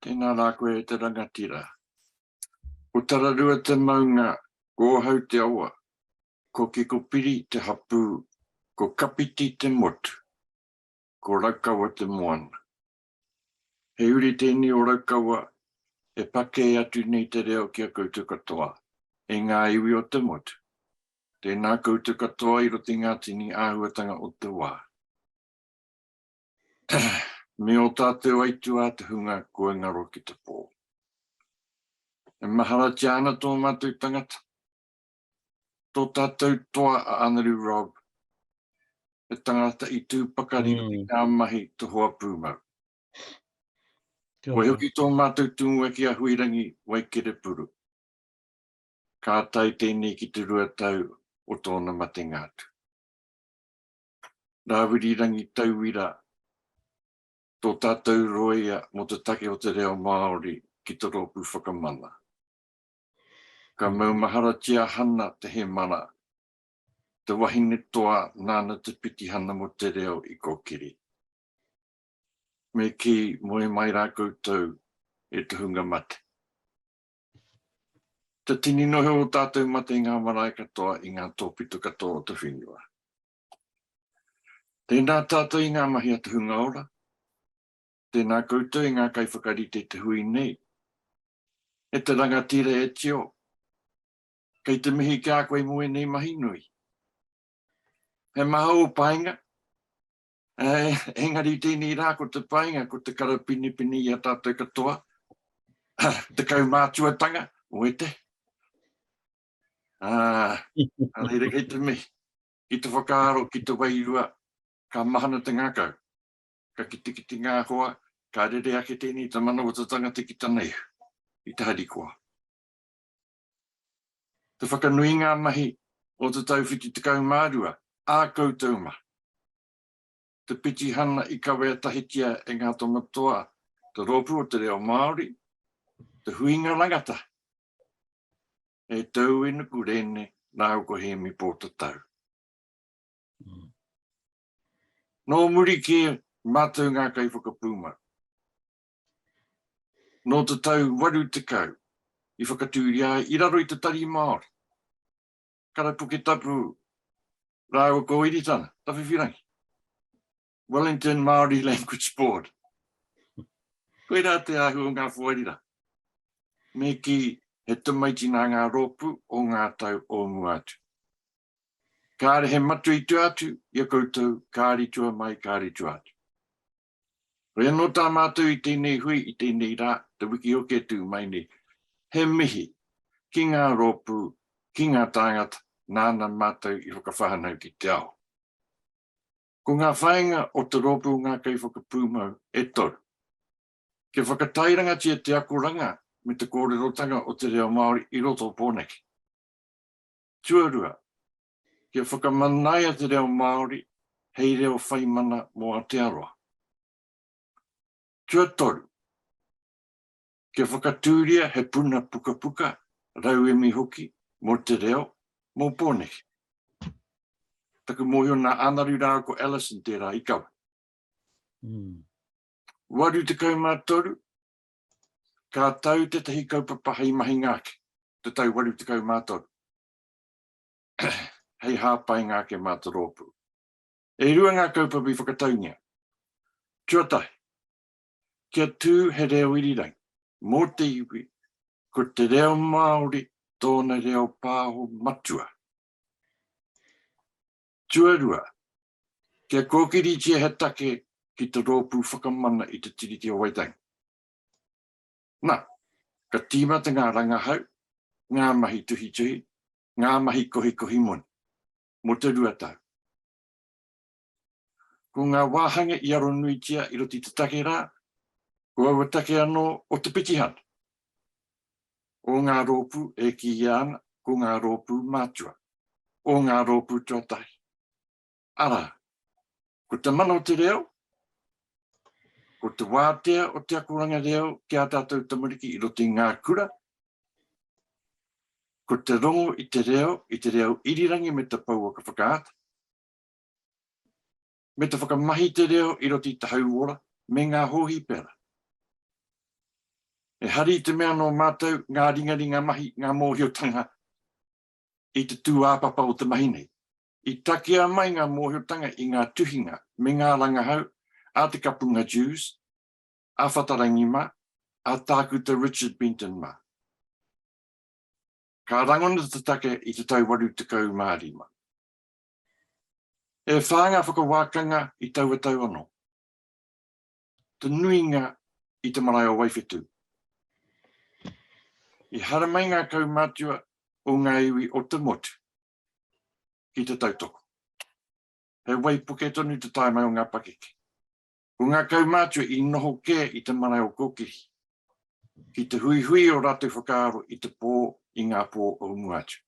Tēnā rā koe e te rangatira. Ko Tararua te maunga, ko Ōhau te awa, ko Kikopiri te hapū, ko Kapiti te motu, ko Raukawa te moana. He uri tēnei o Raukawa e pakē atu nei te reo ki a koutou katoa, e ngā iwi o te motu. Tēnā koutou katoa i roto i ngā tini āhuatanga o te wā. Me ō tātou aituā te hunga kua ngaro ki te pō. E maharatia ana tō mātou tangata, tō tātou toa a Anarū Rob, he tangata i tū pakari mm. i ngā mahi to hoa pūmau. Wai hoki tō mātou tūnga ki a Huirangi Waikere Puru. Ka tai tēnei ki te rua tau o tōna matenga atu. nā Wirirangi Tauira tō tātou rōia mō te take o te reo Māori ki te rōpū whakamana. Ka maumaharatia hana te hemara, te wahine toa nāna te pitihana mō te reo i kōkiri. Me kī, moe mai rā koutou e tohunga mate. Te tini noho o tātou mate i ngā marae katoa, i ngā tōpito katoa o te whenua. Tēnā tātou i ngā mahi a te hunga ora, tēnā koutou i ngā kaiwhakarite i te hui nei, e te rangatira e Tio, kei te mihi ki a koe mō ēnei mahi nui. He maha ō painga, Engari i tēnei rā ko te painga, ko te karapinepine i a tātou katoa, te kaumātuatanga, oe te. Ah, reira kei te mihi, ki te whakaaro, ki te wairua, ka mahana te ngākau, ka kitikiti ngā hoa, ka rere ake tēnei te manawatatanga te ki taneihu, i te harikoa. Te whakanui ngā mahi o te tau 72 ā koutou mahi. Te pitihana i kawea tahitia e ngā tono toa te Rōpū o te Reo Māori, te huinga rangatahi. E Tau e Nuku Rene rāua ko Hēmi Pōtatau. Nō muri kē mātou ngā kaiwhakapūmau. Nō te tau 80 i whakatūria ai i raro i te Tari Māori, Karapuke Tapu rāua ko Iritana, Tawhiwhirangi, Wellington Māori Language Board. Koirā te ahu o ngā wharirā. Me kī, he tamaiti nā ngā rōpū o ngā tau o mua atu. Kāre he matui tua atu i a koutou, kāre tua mai, kāre tua atu. Hoi anō tā mātou i tēnei hui, i tēnei rā, te wiki hoki e tū mai nei, he mihi ki ngā rōpū, ki ngā tāngata nāna mātou i whakawhānau ki te ao. Ko ngā whāinga o te rōpū Ngā Kaiwhakapūmau e toru. Kia whakatairangatia te akoranga me te kōrerotanga o te reo Māori i roto o Pōneke. Tuarua, Kia whakamanaia te reo Māori hei reo whaimana mō Aotearoa. Tuatoru, kia whakatūria he puna pukapuka, rauemi hoki mō te reo, mō Pōneke. Taku mōhio nā Ānaru rāua ko Alison tērā i kawe. Mm. 83, ka tau tētahi kaupapa hei mahinga ake, te tau 83. hei hāpainga ake mā te rōpū. E rua ngā kaupapa i whakataungia. Tuatahi, kia tū he reo irirangi mō te iwi, ko te reo Māori tōna reo pāho matua. Tuarua, kia kōkiritia he take ki te rōpū whakamana i te Tiriti o Waitangi. Na, ka tīmata ngā rangahau, ngā mahi tuhituhi, ngā mahi kohikohi moni, mō te rua tau. Ko ngā wāhanga i aronuitia i roto i te take rā, ko aua take anō o te pitihana, o ngā rōpū e kīia ana ko ngā rōpū mātua, o ngā rōpū tuatahi. Arā, ko te mana o te reo, ko te wātea o te akoranga reo ki ā tātou tamariki i roto i ngā kura, ko te rongo i te reo, i te reo irirangi me te pouaka whakaata, me te whakamahi te reo i roto i te hauora me ngā hōhipera. E hari te mea nō mātou ngā ringaringa mahi, ngā mōhiotanga i te tūāpapa o te mahi nei. I takea mai ngā mōhiotanga i ngā tuhinga me ngā rangahau a Te Kapunga Dewes, a Whatarangi mā, a Tākuta Richard Benton mā. Ka rangona te take i te tau 85. E whā ngā whakawākanga i taua tau anō. Te nuinga i te marae o Waiwhetū. I haramai ngā kaumātua o ngā iwi o te motu. ki te tautoko. He waipuke tonu te taenga o ngā pakeke. Ko ngā kaumātua i noho kē i te marae o Kōkiri, ki te huihui o rātou whakaaro i te pō, i ngā pō o mua atu.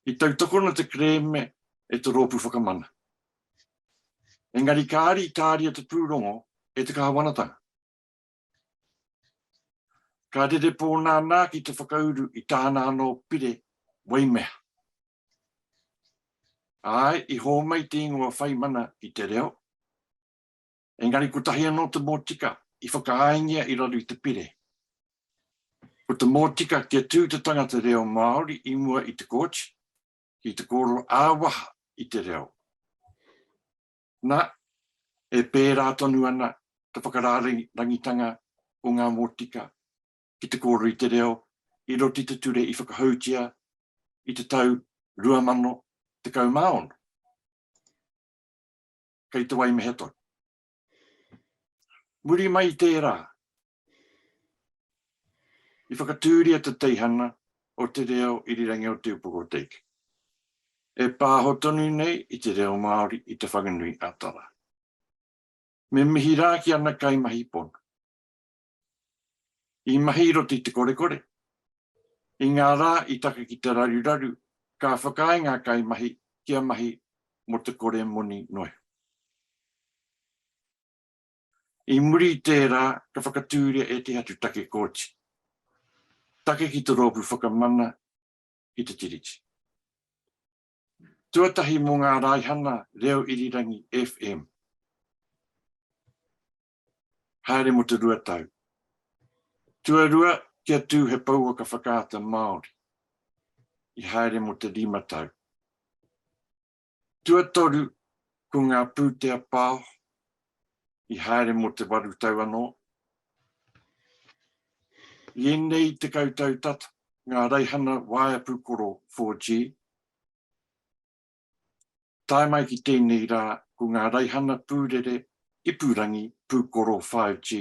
I tautokona te kerēme e te rōpū whakamana. Engari kāre i tāria te pūrongo e te Kāwanatanga. Ka rere pōnānā ki te whakauru i tāna anō pire wai mea. Āe, i hōmai te ingoa whaimana i te reo, engari kotahi anō te mōtika i whakaaengia i raro i te pire. Ko te mōtika kia tū te tangata reo Māori i mua i te kōti, ki te kōrero ā-waha i te reo. Na, e pērā tonu ana te whakarārangitanga o ngā mōtika ki te kōrero i te reo i roto i te ture i whakahoutia i te tau 2016. Kei te waimehe tonu. Muri mai i tērā, I whakatūria te teihana o te reo irirangi o Te Upoko o Teika, e pāho tonu nei i te reo Māori i Te Whanganui a Tara. Me mihi rā ki ana kaimahi pono, i mahi i roto i te korekore, i ngā rā i taka ki te raruraru, ka whakaae ngā kaimahi kia mahi mō te kore moni noiho. I muri i tērā, ka whakatūria ētehi atu take kōti, take ki te Rōpū Whakamana i te Tiriti. Tuatahi mō ngā raihana reo irirangi FM, haere mō te rua tau. Tuarua, kia tū he pouaka whakaata Māori, i haere mō te rima tau. Tuatoru, ko ngā pūtea pao i haere mō te waru tau anō. I ēnei tekau tau tata, ngā raihana waea pūkoro 4G, tae mai ki tēnei rā, ko ngā raihana pūrere ipurangi pūkoro 5G.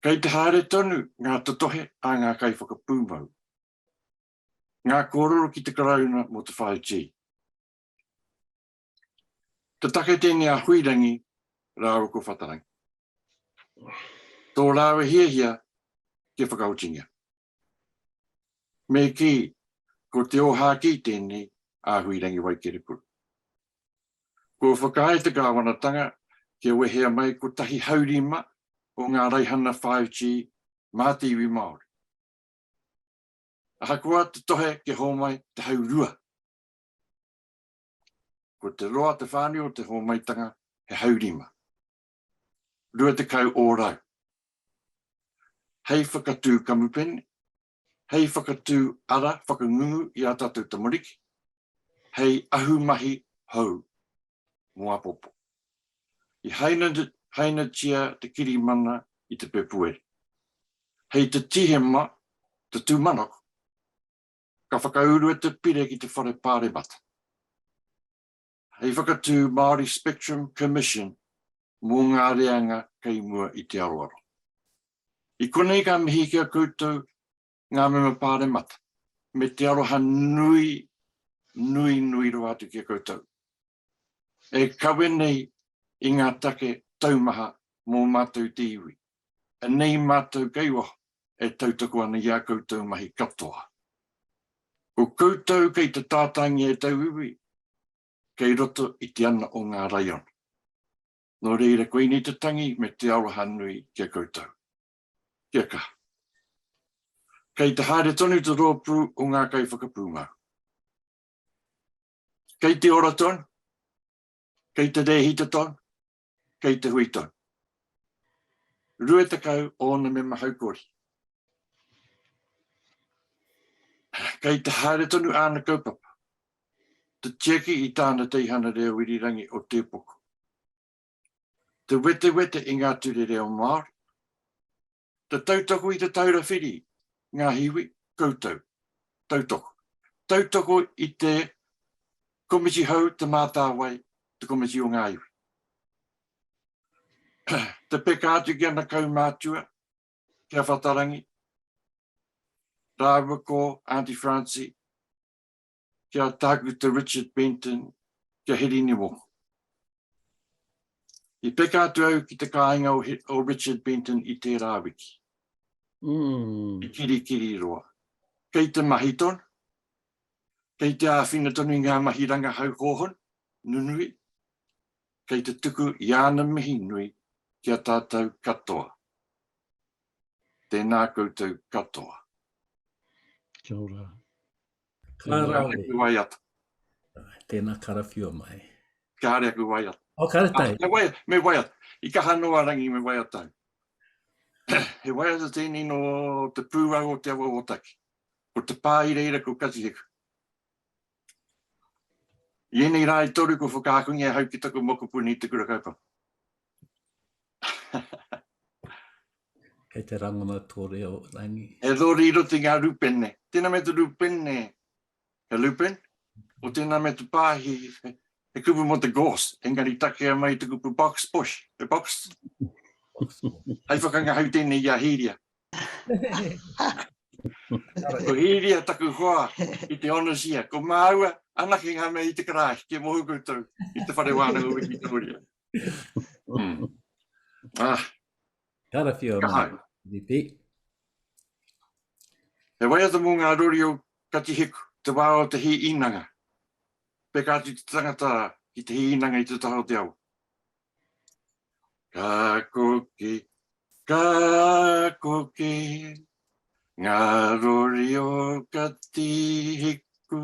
Kei te haere tonu ngā totohe a ngā kaiwhakapūmau. Ngā kōrero ki te Karauna mō te whāi tī. Ka take tēnei a Huirangi rāua ko Whatarangi. Tō rāua hiahia kia whakahotingia. Me kī, ko te ōhākī tēnei a Huirangi Waikerekuru. Kua whakaae te kāwanatanga kia wehea mai kotahi haurima o ngā raihana whāiti mā te iwi Māori. Ahakoa te tohe kia hōmai te haurua, ko te roa te whānui o te hōmaitanga he haurima, 20 ōrau, hei whakatū kamupene, hei whakatū ara whakangungu i ā tātou tamariki, hei ahumahi hou mō apopo. I hainatia te kirimana i te pepuere. Hei te Tihema, te tūmanako, ka whakaurua te pire ki te Whare Pāremata. Hei whakatū Māori Spectrum Commission mō ngā reanga kei mua i te aroaro. I konei ka mihi ki a koutou ngā mema pāremata, me te aroha nui, nui, nui rawa atu ki a koutou, e kawe nei i ngā take taumaha mō mātou te iwi, anei mātou kei waho e tautoko ana i ā koutou mahi katoa. Ko koutou kei te tātāngia e tauiwi, kei roto i te ana o ngā raiona. Nō reira, koinei te tangi me te aroha nui ki a koutou. Kia kaha. Kei te haere tonu te rōpū o ngā kaiwhakapūmau. Kei te ora tonu, kei te rēhita tonu, kei te hui tonu. Rue tekau ōna mema haukori. Kei te haere tonu āna kaupapa. Te tiaki i tāna teihana reo irirangi o Tēpoko. te wetewete i ngā ture reo Māori, te tautoko i Te Taura Whiri, ngā hiwi, koutou, tautoko, tautoko i te Komiti Hou, Te Mātāwai, te Komiti o ngā Iwi. te peka atu ki ana kaumātua, ki a Whatarangi, rāua ko Aunty Francie, ki a Tākuta Richard Benton, ki a Heri Niwoko. I peka atu au ki te kāinga o Richard Benton i tērā wiki. Mm. I kirikiri roa. Kei te mahi tonu. Kei te āwhina tonu i ngā mahi rangahau hōhon, nunui. Kei te tuku i āna mihi nui ki a tātou katoa. Tēnā koutou katoa. Kia ora. Ka rau. Tēnā wai atu. Tēnā karawhiua mai. Ka haere aku wai atu. O ka retai. Ah, me wai, me wai atu. I ka hano a rangi me wai atu. he wai atu tēnei no te pūrau o te awa o taki. Ko te pā i reira ko katiheku. I enei rā i toru ko whakaakungi a hau ki taku mokopuni te kura kaupapa. Kei te rangona tō reo, Rangi. E rori i roto i ngā rūpene. Tēnā me te rūpene, he lupin, o tēnā me te pāhi, he kupu mō te gorse, engari takea mai te kupu box bush, he box. Hai whakangahau tēnei i a Hīria. ko Hīria taku hoa i te onasia, ko māua anake ngā mea i te karāhi, kia mohu koutou i te whare wānanga wiki tōria. mm. Ah. Kāra whio mā, Ripi. He waiata mō ngā rori o Katihiku, te wā o te hi inanga. Peka atu te tangata ki te hi inanga i te taha o te awa. Ka koke, ka koke, ngā rori o Katihiku.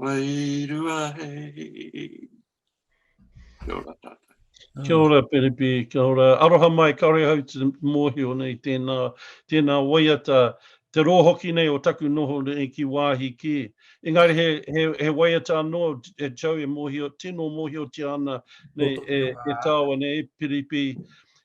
Wairua hei. Kia ora tātou. Kia ora Perepi, kia ora. Aroha mai, ka ora hau te mōhio nei tēnā, tēnā waiata, te roa hoki nei o taku noho nei ki wāhi kē. Engari he, he, he waiata anō, e Joe, e mōhio, tino mōhiotia ana nei e, e tāua nei, e Perepi,